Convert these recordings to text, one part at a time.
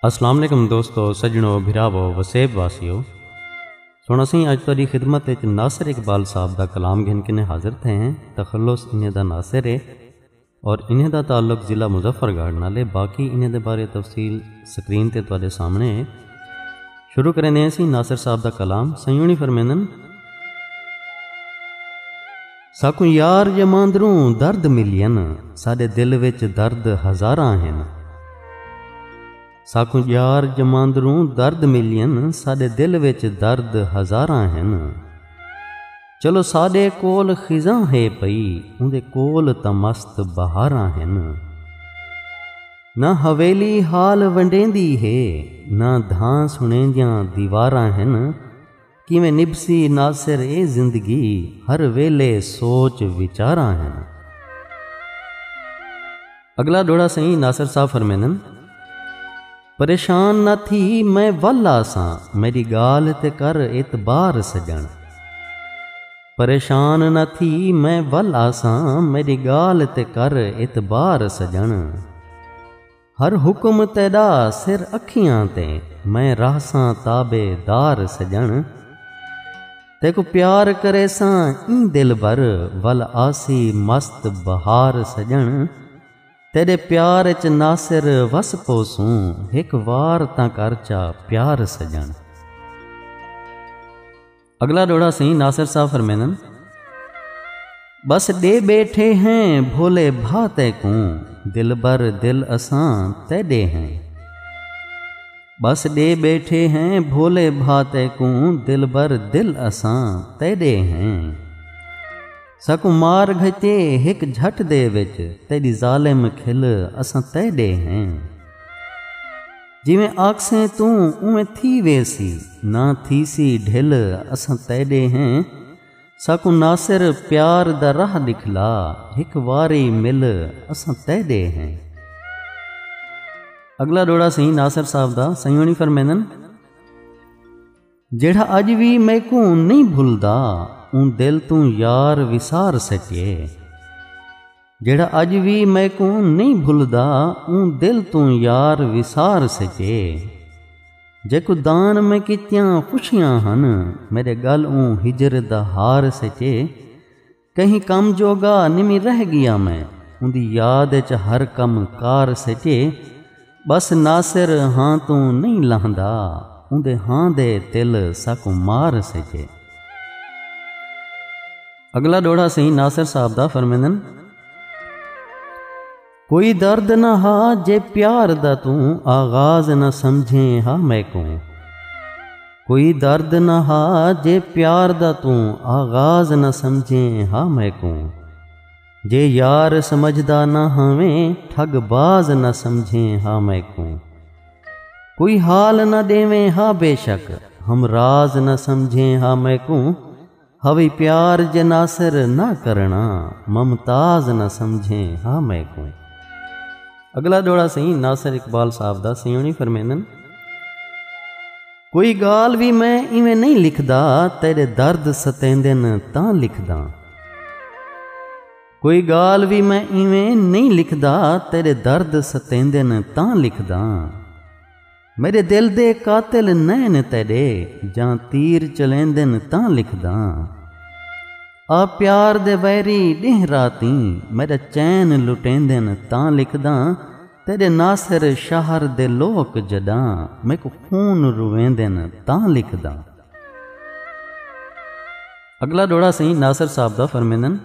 السلام علیکم دوستو سجنو بھراو وسیب واسیو سن اسی اج تاری خدمت وچ ناصر اقبال صاحب دا کلام گھن کنے حاضر تھے ہیں تخلص انہیں دا ناصر ہے اور انہیں دا تعلق ضلع مظفر گڑھ نال ہے باقی انہیں دے بارے تفصیل سکرین تے تواڈے سامنے ہے شروع کریندے ہیں سی ناصر صاحب دا کلام سیونی فرمیندن ساکوں یار یماندروں درد ملین ساڈے دل وچ درد ہزاراں ہیں ساکوں ڄار ڄماندروں درد ملین ساݙے دل وچ درد ہزاراں ہن چلو ساݙے کول خزاں ہے پئی اوندے کول تاں مست بہاراں ہن نہ حویلی حال ونڈیندی ہے نہ دھاں سݨیندیاں دیواراں ہن کیویں نبھسی ناصر اے زندگی ہر ویلھے سوچ وچاراں ہن۔ اگلا ڈوہڑا سئیں ناصر صاحب فرمیندن۔ پریشان نہ تھی میں ول آساں میڈی گالھ تے کر اعتبار سجݨ۔ پریشان نہ تھی میں ول آساں میڈی گالھ تے کر اعتبار سجݨ۔ ہر حکم تیݙا سر اکھیاں تے میں رہساں تابع دار سڄݨ تیکوں پیار کریساں ایں دلبر ول آسی مست بہار سڄݨ تیݙے پیار اچ ناصر وس پوسوں ہک وار تاں کر چا پیار سڄݨ۔ اگلا ڈوڑا سہی ناصر صاحب فرمینن بس ڈے بیٹھے ہیں بھولے بھا تے کوں دل بر دل اساں تے ڈے ہیں بس ڈے بیٹھے ہیں بھولے بھا تے کوں دل بر دل اساں تے ڈے ہیں سکو مار گھتے ہک جھٹ دے وچ تیری ظالم کھل اساں تے ڈے ہیں جیویں آکھسیں توں اونویں تھی ویسی نہ تھیسی ڈھل اساں تیڈے ہیں ساکوں ناصر پیار دا راہ ڈکھلا ہک واری مل اساں تیڈے ہیں۔ اگلا ڈوہڑا سئیں ناصر صاحب دا سئیں ہونی فرمیندن۔ جیڑھا اج وی میکوں نہیں بھلدا اون دل توں یار وسار سکے جیڑھا اج وی میکوں نہیں بھلدا اون دل توں یار وسار سکے جیکو دان میں کیتیاں خوشیاں ہن میرے گل اون ہجر دا ہار سکے کہیں کم جوگا نمی رہ گیا میں اوندی یاد اچ ہر کم کار سجے بس ناصر ہاں توں نہیں لہندا اوندے ہاں دے تل ساکوں مار سجے اگلا ڈوڑا سہی ناصر صاحب دا فرمیندن کوئی درد نہ ہا جے پیار دا توں آغاز نہ سمجھیں ہا میکوں کوئی درد نہ ہا جے پیار دا توں آغاز نہ سمجھیں ہا میکوں جے یار سمجھدا نہ ہاویں ٹھگ باز نہ سمجھیں ہا میکوں کوئی حال نہ ڈیویں ہا بے شک ہم راز نہ سمجھیں ہا میکوں ہوی پیار جے ناصر نہ کرݨا ممتاز نہ سمجھیں ہا میکوں۔ اگلا ڈوہڑا سئیں ناصر اقبال صاحب دا سئیں ہونی فرمیندن۔ کوئی گال وی میں ایویں نہیں لکھدا تیڈے درد ستیندن تاں لکھداں۔ کوئی گال وی میں ایویں نہیں لکھدا تیڈے درد ستیندن تاں لکھداں۔ میݙے دل دے قاتل نئن تیݙے جاں تیر چلیندن تاں لکھداں آ پیار دے ویری ݙینہہ راتیں میݙا چین لٹیندن تاں لکھداں تیݙے ناصر شہر دے لوک جݙاں میکوں خون رویندن تاں لکھداں۔ اگلا ڈوڑا سئیں ناصر صاحب دا فرمیندن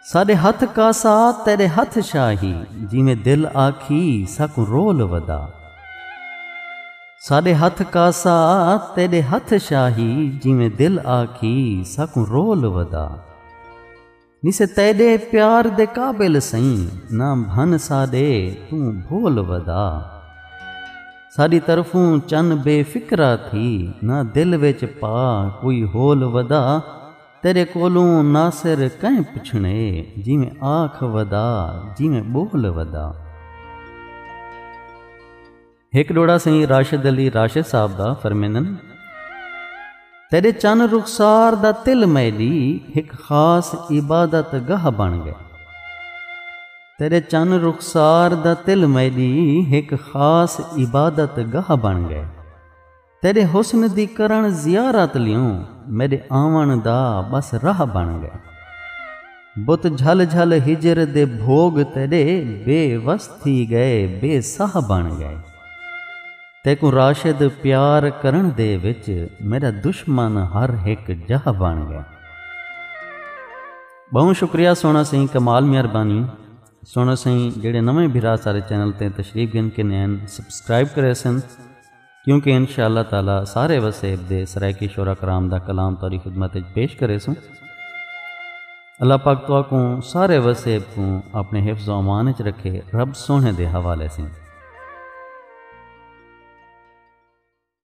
ساڈے ہتھ کاسا تیرے ہتھ شاہی جیویں دل آکھی ساکوں رول ودا ساڈے ہتھ کاسا تیرے ہتھ شاہی جیویں دل آکھی ساکوں رول ودا نسے تیڈے پیار دے قابل سئیں نہ بھن ساڈے توں بھول ودا ساڈی طرفوں چن بے فکرا تھی نہ دل وچ پا کوئی ہول ودا تیرے کولوں ناصر کئیں پچھنے جیویں آکھ ودا جیویں بول ودا ہک ڈوڑا سئیں راشد علی راشد صاحب دا فرمیندن تیرے چن رخسار دا تل میڈی ہک خاص عبادت گاہ بن گئے تیرے چن رخسار دا تل میڈی ہک خاص عبادت گاہ بن گئے تیݙے حسن دی کرݨ زیارت لیوں میݙے آوݨ دا ٻس راہ بݨ ڳئے بت جھل جھل ہجر دے بھوڳ تیݙے بے وس تھی ڳئے بے ساہ بݨ ڳئے تیکوں راشد پیار کرݨ دے وچ میݙا دشمن ہر ہک جاہ بݨ ڳئے۔ ٻہوں شکریہ سوہݨا سئیں کمال مہربانی سوہݨا سئیں جیڑھے نویں بھرا سارے چینل تے تشریف گھن کے نین سبسکرائب کریسن کیونکہ انشاء اللہ تعالی سارے وسیب دے سرائیکی شعرا کرام دا کلام توری خدمت اچ پیش کرے سوں اللہ پاک تو کوں سارے وسیب کوں اپنے حفظ و امان اچ رکھے رب سونے دے حوالے سیں